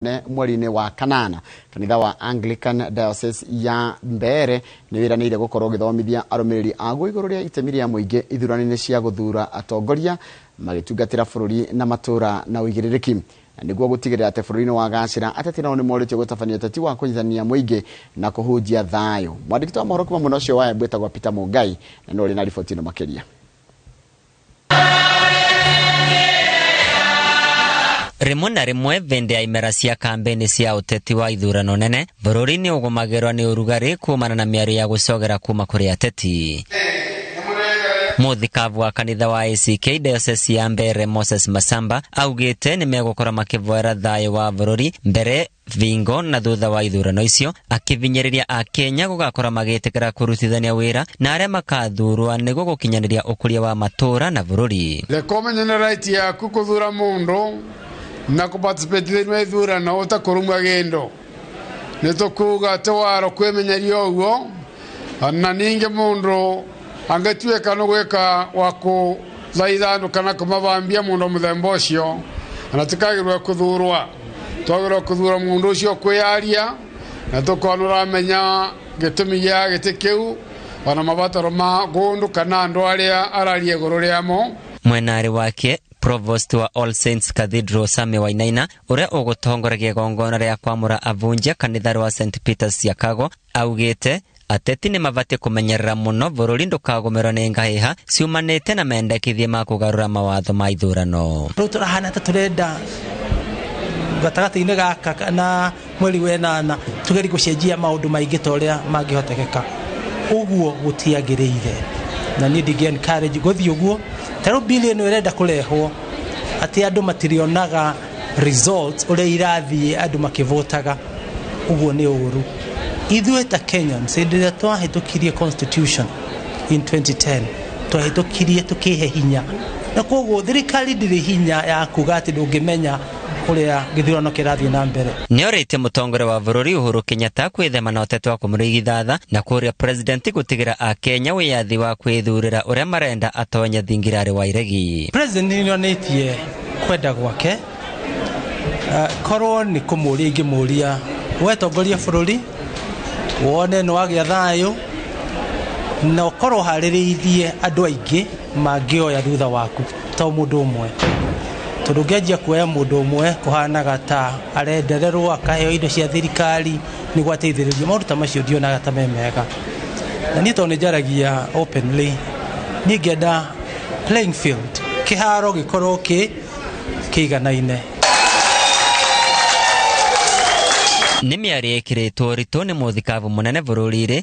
ne mweri-inĩ wa kanana kanitha wa Anglican Diocese ya Mbeere nĩ wĩranĩire gũkorwo ũgĩthomithia arũmĩrĩri aguo igũrũ rĩa itemi rĩa mũingĩ ithurano-inĩ cia gũthura atongoria magĩtungatĩra bũrũri na matũra na ũigĩrĩrĩki na nĩguo gũtigĩrĩra atĩ bũrũri-inĩ wa gacĩra ateti nao nĩ morĩtio gũtabania ũteti wa kũnyitithania mũingĩ na kũhunjia thayũ mwandĩki wa mohoro kuma mwena ũcio wa Embu etagwo Peter Mũngai na nĩ ũrĩ na riboti ĩno makĩria rĩmwe na rĩmwe vĩndĩ ya imera cia kambĩni cia ũteti wa ithurano nene bũrũri nĩ ũgũmagĩrwa nĩ ũrugarĩ kumana na mĩario ya gũcogera kuma kũrĩ ateti mũthikabu wa kanitha wa ACK diocese ya Mbeere Moses Masamba augĩte nĩ megũkorwo makĩvoera thayũ wa bũrũri mbere thingo na thutha wa ithurano icio akĩvinyĩrĩria akenya gũgakorwo magĩtĩkĩra kũrutithania wĩra na arĩa makathurwa nĩguo gũkinyanĩria ũkũria wa matũũra na bũrũri Rekomenya nĩ right yaku kũthura mũndũ na kũparticipate thĩinĩ wa ithurano ũtakũrumwa gĩndũ. Nĩ tũkuuga ti waro kwĩmenyeria ũguo na ningi mundu angituika ni gwika wa kuthaithanu kana kumavambia mundu muthemba ucio na tikagirwe kuthurwa twagirwe kuthura mundu ucio kwiyaria na tukona uramenya gitumi gia giti kiu ona mabataro ma gundu kana andu aria ararie iguru riamo mwenarĩ wake provost wa all saints cathedral same wainaina ũrĩa ũgũtongoragia igongona rĩa kwamũra avunjia kanitha rwa st peters chicago Augĩte ateti nĩ mabatiĩ kũmenyerera mũno bũrũri ndũkagũmĩrwo nĩ ngahĩha ciumanĩte na mendekithia ma kũgarũra mawatho ma ithurano. Rĩu tũrahana ta tũrenda gatagatĩ-inĩ gaka kana mweri wenana tũgerie gũcenjia maũndũ maingĩ ta ũrĩa mangĩhotekeka. Ũguo gũtiagĩrĩire na niĩ ndingĩ encourage gũthiĩ ũguo. Ta rĩu bill ĩno ĩrenda kũrehwo atĩ andũ matirĩonaga results ũrĩa irathiĩ andũ makĩvotaga ũguo nĩ ũru ithuĩ ta kenyans hĩndĩ ĩrĩa twahĩtũkirie constitution in 2010 twahĩtũkirie tũkĩhe hinya na koguo thirikari ndĩrĩ hinya ya kuga atĩ ndũngĩmenya ũrĩa gĩthurano kĩrathiĩ na mbere nĩorĩtie mũtongoria wa bũrũri Uhuru Kenyatta kwĩthema na ũteti wa kũmũrigithatha na kũria president gũtigĩra akenya wĩyathi wa kwĩthurĩra ũrĩa marenda atonye thingirarĩ wa iregi president nĩonĩtie kwenda gwake Ah, korwo nĩ kũmũria ingĩmũria we tongoria bũrũri wone nĩ wagĩa thayũ na ũkorwo harĩrĩithie andũ aingĩ mangĩoya thutha waku to mũndũ ũmwe tondũ ũngĩanjia kuoya mũndũ ũmwe kũhanaga ta arendererwo akaheo indo cia thirikari nä gwateithä maruta macio ndionaga ta me mega na niä tondå nä njaragia openly niä ngenda playing field kä haro gä korwo kä kä iganaine nĩ mĩario ĩkĩrĩtwo ritũ nĩ mũthikabu mũnene bũrũri-rĩ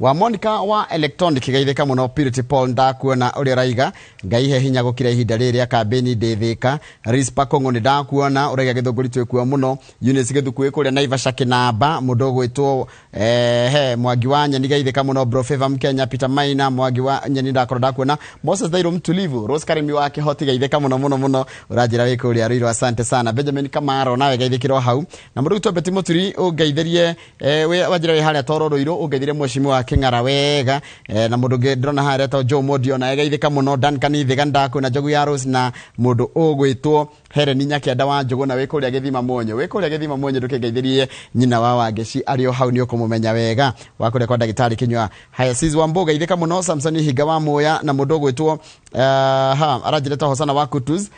wa monika wa electronic geithĩka mũno purity paul ndakuona ũrĩa ũraiga ngai he hinya gũkira ihinda rĩrĩ rĩa kambĩni ndĩthĩka rispa kũng'ũ nĩ ndakuona ũraiga gĩthũngũri twĩkuo mũno unis gĩthukuĩ kũrĩa naivasha kĩnamba mũndũ ũgwĩtwo eh, he mwangi wa nyeni geithĩka mũno brofeva mkenya peter maina mwangi wa nyeni ndakorwo ndakuona moses thairũ mtulivu rose karimi wa kĩhoti geithĩka mũno mũno mũno ũranjĩra wĩ kũrĩa rĩirwo asante sana benjamin kamaro nawe geithĩkĩrwo hau na mũndũ ũgwĩtwo beti mũturi ũngeithĩrie Eh, we wanjira we haria toro ruiru ungethire mweshimi wa king'ara wega eh, na mundu ngi ndrona haria to Joe Modi ona egeithika muno Dan Kanithiga ndaku na Njogu ya Rose na mundu ugwitwo Helen Nyakianda wa Njogu na wikuria githima mwonyo wikuria githima mwonyo ndukingeithirie nyina wa Wangeci ari o hau ni ukumumenya wega wakuria kwa ndagitari kinywa haya sis wa mboga ithika muno Samson Higa wa Moya na mundu ugwitwo uh, ha aranjireta hosana wa Kutus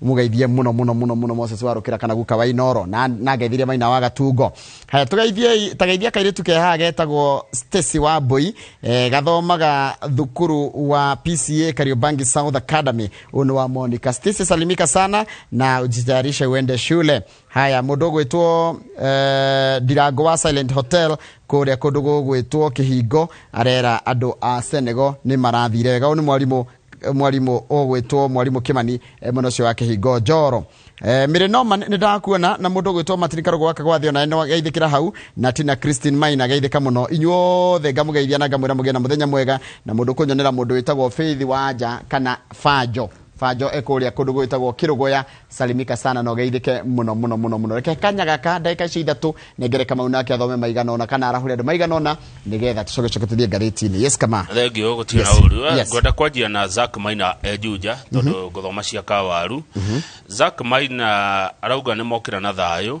mugeithie muno muno muno muno moses warukira kana guka wa inoro na na ngeithirie maina wa gatungo haya tugeithie tageithia kairitu ke haha getagwo stacy wa mbui eh, gathomaga thukuru wa pca kariobangi south academy ũyũ nĩ wa monica stacy salimika sana na ujitayarishe uende shule haya mundu gwitwo eh, ndirango wa silent hotel kuria kundu gugwitwo kihingo arera andu a senego ni marathire wega ũyũ nĩ mwarimũ mwarimũ ũgwĩtwo mwarimũ kĩmani eh, mwena ũcio wa kĩhingo njoro Eh, mĩrĩ noma nĩ ndakuona na mũndũ ũgwĩtwo matini karũgũ gaka gwa thĩ ona no geithĩkĩra hau na tina christine maina geithĩka mũno inyuothe ngamũgeithia na ngamwĩra mũgĩe na mũthenya mwega na mũndũ kũnyonera mũndũ wĩtagwo faith wanja kana banjo banjo ekũrĩa kũndũ gwĩtagwo kĩrũgũya salimika sana na ũgeithĩke mũno mũno mũno mũno reke kanya gaka ndagĩka icio ithatũ nengere kamau nake athome maigana ona kana arahure andũ maigana ona nĩgetha tũcoke coke tũthiĩ ngathĩti-inĩ yes kama thengio gũtirĩ Yes, na ũru yes. ngwenda kwanjia na zak maina enjunja tondũ ngũthoma cia kawaru zak maina arauga nĩ mokĩra na thayũ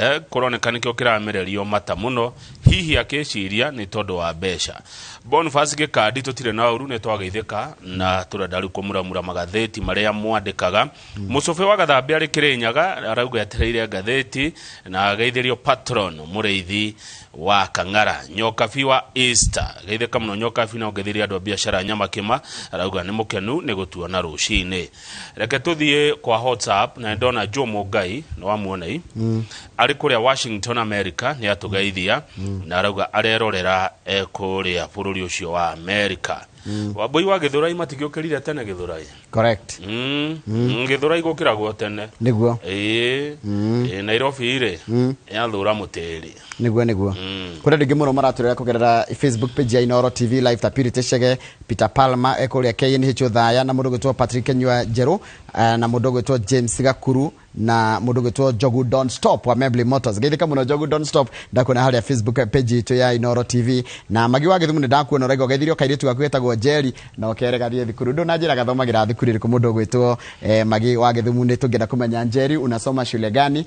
eh, kũroneka nĩkĩo kĩramererio mata mũno hihi akĩciria nĩ tondũ wa mbeca bonfas gĩkandi tũtirĩ na ũru nĩ twageithĩka na tũrenda rĩu kũmuramura magathĩti marĩa mwandĩkaga mũcũbĩ wa gathambĩ arĩ kĩrĩnyaga arauga etereire ngathĩti na ageithĩrio patron mũrĩithi wa kang'ara nyokabi wa easter geithĩka mũno nyokabi na ũgeithĩria andũ a biacara nyamakĩma arauga nĩ mũkenu nĩ gũtuona rũcinĩ reke tũthiĩ kwa whatsapp na ndona joe mũngai nĩ wa muonei arĩ kũrĩa washington america nĩ atũgeithia na arauga arerorera e kũrĩa bũrũri ũcio wa america wambũi wa gĩthũrai matigĩũkĩrire tene gĩthũrai correct Mm, mm, gĩthũrai gũkĩragwo tene nĩguo Ĩĩ, ĩĩ, nairobi rĩ yathũra mũtĩri niguo niguo kuri ndingi muno maraturira kugerera facebook page ya inoro tv live ta purity chege peter palma ekuria knhu thaya na mundu gwitwo patrick nyua njeru eh, na mundu gwitwo james gakuru na mundu gwitwo jogu don stop wa membly motors geithika muno jogu don stop ndakuona haria facebook page itu ya inoro tv na magi wa githumu ni ndakuona raigo geithirio kairitu gaku getagwo jeri na ukere gathie thukuru ndu na njira gathomagira thukuru iriku mundu gwitwo eh, magi wa githumu ni tungienda kumenya njeri unasoma shule gani